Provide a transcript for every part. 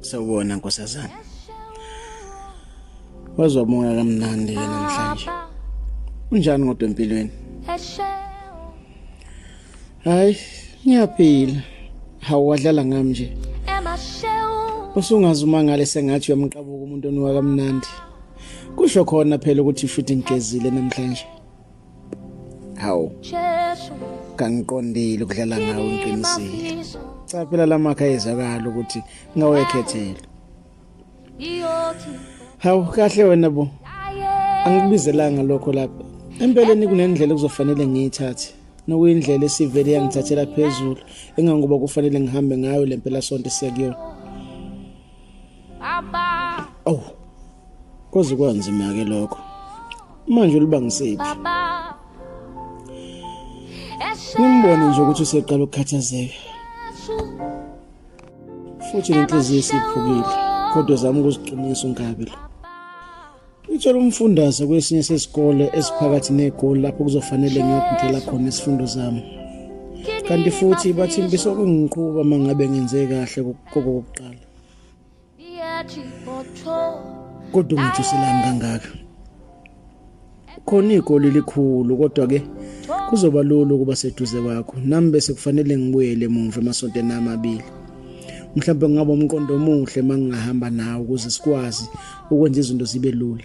sawubona nkosazana wazwa umoya kamnandi ke namhlanje unjani kodwa empilweni hayi ngiyaphila hawu wadlala ngami nje usungazi uma ngale sengathi uyamqabuka umuntu oniwa kamnandi kusho khona phela ukuthi futhi ngigezile namhlanje hawu kangiqondile ukudlala ngawo ngiqinisile cha phela lamakha ezakala ukuthi ngawekhethela hawu kahle wena bo angikubizelanga lokho lapha empeleni kunendlela kuzofanele ngiyithathe nokuyindlela esivele yangithathela phezulu engangoba kufanele ngihambe ngayo lempela sonto siya kuyona Baba. Oh. Koze kwanzima ke lokho. Manje ulibangisephi? Baba. Ngimbone nje ukuthi useqala ukukhathazeka. Futhi inhliziyo isiphukile kodwa zama ukuziqinisa unkabi la. Ngitshela umfundaze kwesinye sesikole esiphakathi negoli lapho kuzofanele ngiyogudela khona isifundo zami. Kanti futhi bathi mbiso kungiqhuba mangabe ngenze kahle kokokuqala. kodwa ungijuselani kangaka khona igoli likhulu kodwa ke kuzoba lula ukuba seduze kwakho nami bese kufanele ngibuyele emuva emasontweni amabili mhlawumbe ngingaba umqondo omuhle uma ngingahamba nawe ukuze sikwazi ukwenza izinto zibe lula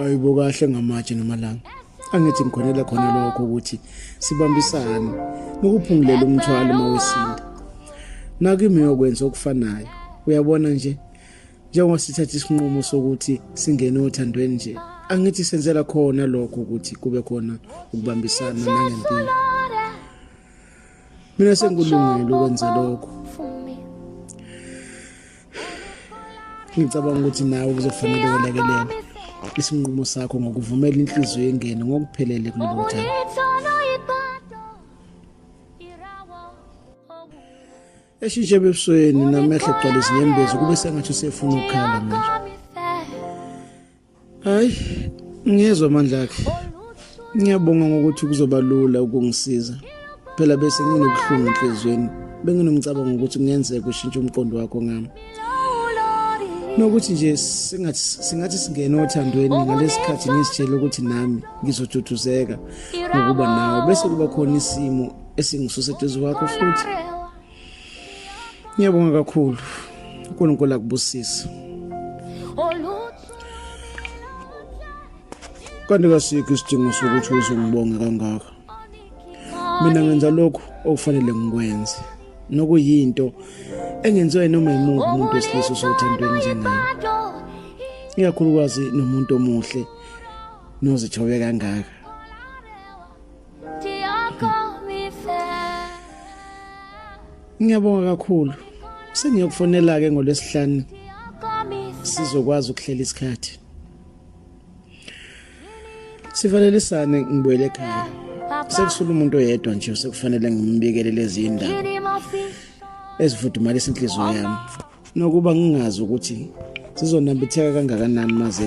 ayibo kahle ngamatshe namalanga angithi ngikhonela khona lokho ukuthi sibambisane nokuphungulela umthwalo uma wesinda nakimi yokwenza okufanayo uyabona nje njengoba sithatha isinqumo sokuthi singene othandweni nje angithi senzela khona lokho ukuthi kube khona ukubambisana nangempilo mina sengikulungele ukwenza lokho ngicabanga ukuthi nawe kuzofanele ulekelele isinqumo sakho ngokuvumela inhliziyo yengene ngokuphelele kulelo thaba eshintshe ebusweni namehlo gcwale izinyembezi kube sengathi usefuna ukukhala manje hayi ngiyezwa amandla akhe ngiyabonga ngokuthi kuzoba lula ukungisiza phela bese nginobuhlungu enhliziyweni benginomcabango ukuthi kungenzeka ushintshe umqondo wakho ngami nokuthi nje singathi singathi singene othandweni ngalesikhathi ngisitshela ukuthi nami ngizojuduzeka ngokuba nawe bese kuba khona isimo esingisuse eduze kwakho futhi ngiyabonga kakhulu uNkulunkulu akubusise kanti kasikho isidingo sokuthi uzongibonge kangaka mina ngenza lokhu okufanele ngikwenze nokuyinto engenziwa noma yimuphi umuntu wesilisa osothandweni njengayo ikakhulukazi nomuntu omuhle nozithobe kangaka Ngiyabonga kakhulu. Sengiyokufonela ke ngolwesihlanu. Sizokwazi ukuhlela isikhathi. Sivalelisane ngibuyele ekhaya. Sekusula umuntu oyedwa nje sekufanele ngimbikele lezi indaba. Ezifudumalisa inhliziyo yami. Nokuba ngingazi ukuthi sizonambitheka kangakanani maze